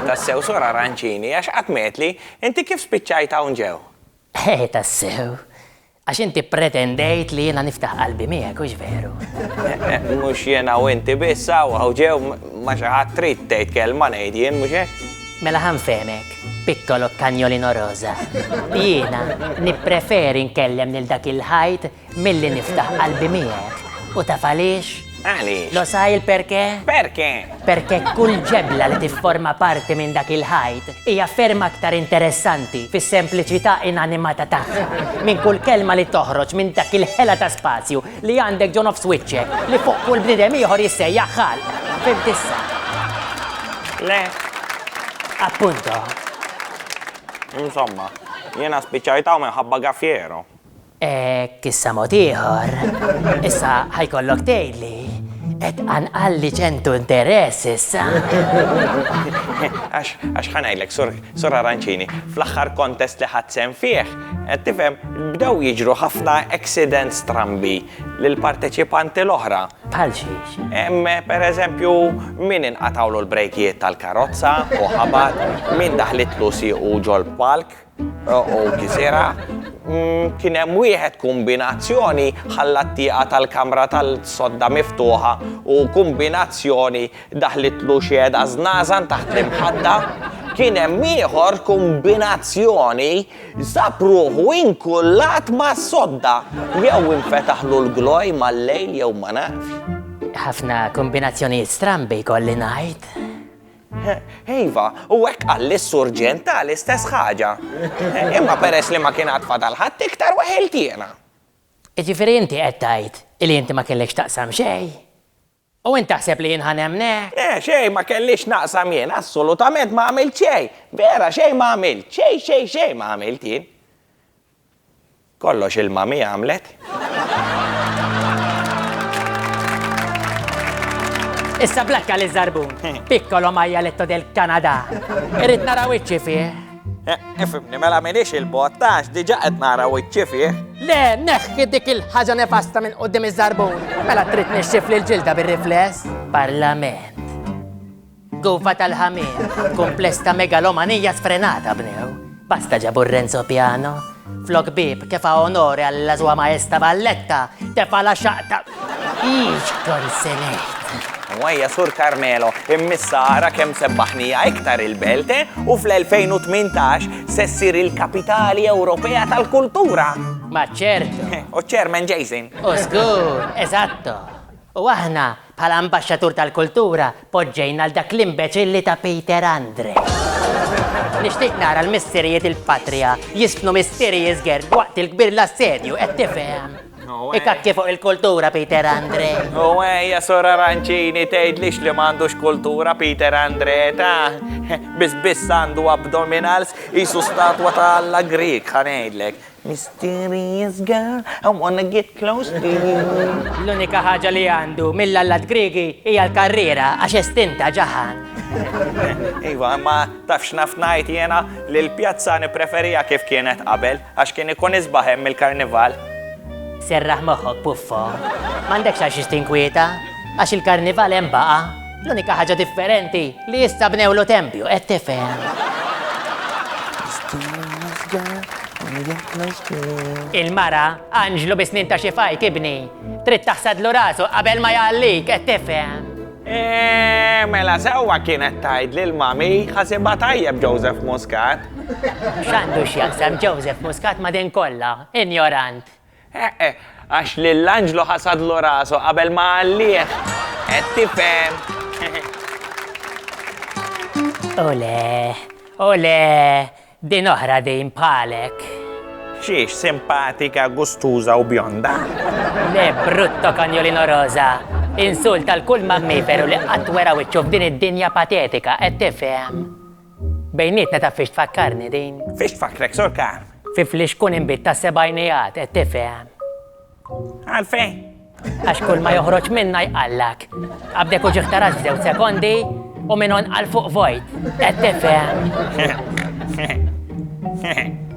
Tassew sora ranċini, għax qatt metli, inti kif spiċċajt hawn ġew? Eh, tassew. Għax inti pretendejt li jiena niftaħ qalbi miegħek, hux veru? Mhux jiena u inti biss hawn hawn ġew ma xi ħadd trid tgħid kelma ngħid jien mhux hekk? Mela ħanfehmek, piccolo cagnolino rosa. Jiena nippreferi nkellem lil dak il-ħajt Milli niftaħ qalbi miegħek, u taf għaliex? Għaliex? Lo sai il perché? Perché? Perché kull ġebla li tifforma parti minn dak il-ħajt hija ferm aktar interessanti fis-sempliċità inanimata tagħha minn kull kelma li toħroġ minn dak il-ħela ta' spazju li għandek ġo nofs wiċċek li fuq kull bniedem ieħor jissejjaħ ħalq. Fimt issa? Le. Appunto. Insomma, jiena spiċċajtaw minħabba gaffiero. Hekk issa mod ieħor. Issa ħajkollok tgħidli qed qalli ċentu interess issa. Għax għax ħanajlek sur sur Arancini, fl-aħħar kontest li ħadd sem fih, qed tifhem bdew jiġru ħafna accidents strambi lil parteċipanti l-oħra. Bħal xiex. Em, per eżempju, min inqatawlu l-brejkijiet tal-karozza u ħabat, min daħlitlu siequ ġol palk. u kisirha. Mm, kien hemm wieħed kombinazzjoni ħalla t-tieqa tal-kamra tal-sodda miftuħa u kombinazzjoni daħlitlu xieda żnażan taħt l-imħadda. Kien hemm ieħor kombinazzjoni sapruħu inkullat ma' sodda jew infetaħlu l-gloj mal-lejl jew ma nafx. Ħafna kombinazzjoni strambi kolli ngħid. Iva, u hekk qal lis-surġent ta' l-istess ħaġa. Imma peress li ma kien għad fadal ħadd iktar weħilt jiena. Jiġifieri inti qed tgħid li inti ma kellekx taqsam xejn? U int taħseb li jien ħa nemmnek? Le, xejn ma kelli x'naqsam jien, assolutament ma għamilt xejn! Vera, xejn ma għamilt, xejn xejn xejn ma għamilt jien. Kollox il-mami għamlet. Issa blakka li zarbun. Piccolo majaletto del Canada. Irrit nara wiċċi fih. Ifimni, eh, eh, mela minix il-bot, tax diġa qed nara wiċċi fih. Le, neħħi dik il-ħaġa nefasta minn qudiem iż-żarbun. Mela trid nixxif li l-ġilda bir-rifless. Parlament. Guffa tal-ħamir, kumpless ta' megalomanija sfrenata bnew. Basta ġabu Renzo Piano. Flok bib, kefa onore għalla zwa maesta Valletta, tefa la xaqta. Iġ konsenet. Mwajja sur Carmelo, immissa ara kem sebbaħnija iktar il-belte u fl-2018 sessir il-kapitali Ewropea tal-kultura. Ma ċertu. U ċermen Jason. U zgur, eżatto. U aħna Bħala Ambaxxatur tal-Kultura poġġejna l dak l-imbeċilli ta' Peter Andre. Nixtieq nara l-missirijiet il-Patria jistnu mistieri jiżgerg waqt il-kbir l-assedju, qed tifhem? Ikakki fuq il-kultura Peter Andre. U ejja Sur Arancini tgħidlix li m'għandux kultura Peter Andre, ta? Biss biss għandu abdominals qisu statwa ta' Alla Grieg, ħa ngħidlek. Mysterious girl, I wanna get close to you. L-unika ħaġa li għandu mill-allat Griegi hija l-karriera għax estinta ġaħan. Iva, imma taf x'naf ngħid jiena li l-pjazza nippreferiha kif kienet qabel għax kien ikun isbaħ hemm il-karnival. Serraħ moħħok, puffo. M'għandekx għal xiex tinkwieta għax il-karnival hemm baqa'. L-unika ħaġa differenti li issa bnewlu tempju, qed tifhem. Il-mara, anġlu bi snin ta' xi fajt ibni, trid taħsadlu rasu qabel ma jgħallik, qed tifhem. Eh, mela sewwa kienet tgħid lil mami ħasibha tajjeb Joseph Muscat. X'għandu x'jaqsam Joseph Muscat ma' din kollha, injorant. Eħe, għax lil Anġlu ħasadlu rasu qabel ma għallih. Qed tifhem? Ole, ole, din oħra din bħalek. Xiex, simpatika, gustuża u bjonda? Le, brutto kanjolino roża. Insult għal kull mammiferu li qatt wera wiċċu f'din id-dinja patetika, qed tifhem? Bejnietna taf fiex tfakkarni din? Fiex tfakkrek, Sur Khan? Fi flix tkun inbid tas-sebgħinijat, qed tifhem? Għalfejn? Għax kull ma joħroġ minna jqallak. Qabdek u ġieħ tarax f'żewġ sekondi u minn hawn għal fuq vojt. Qed tifhem? Hehehehe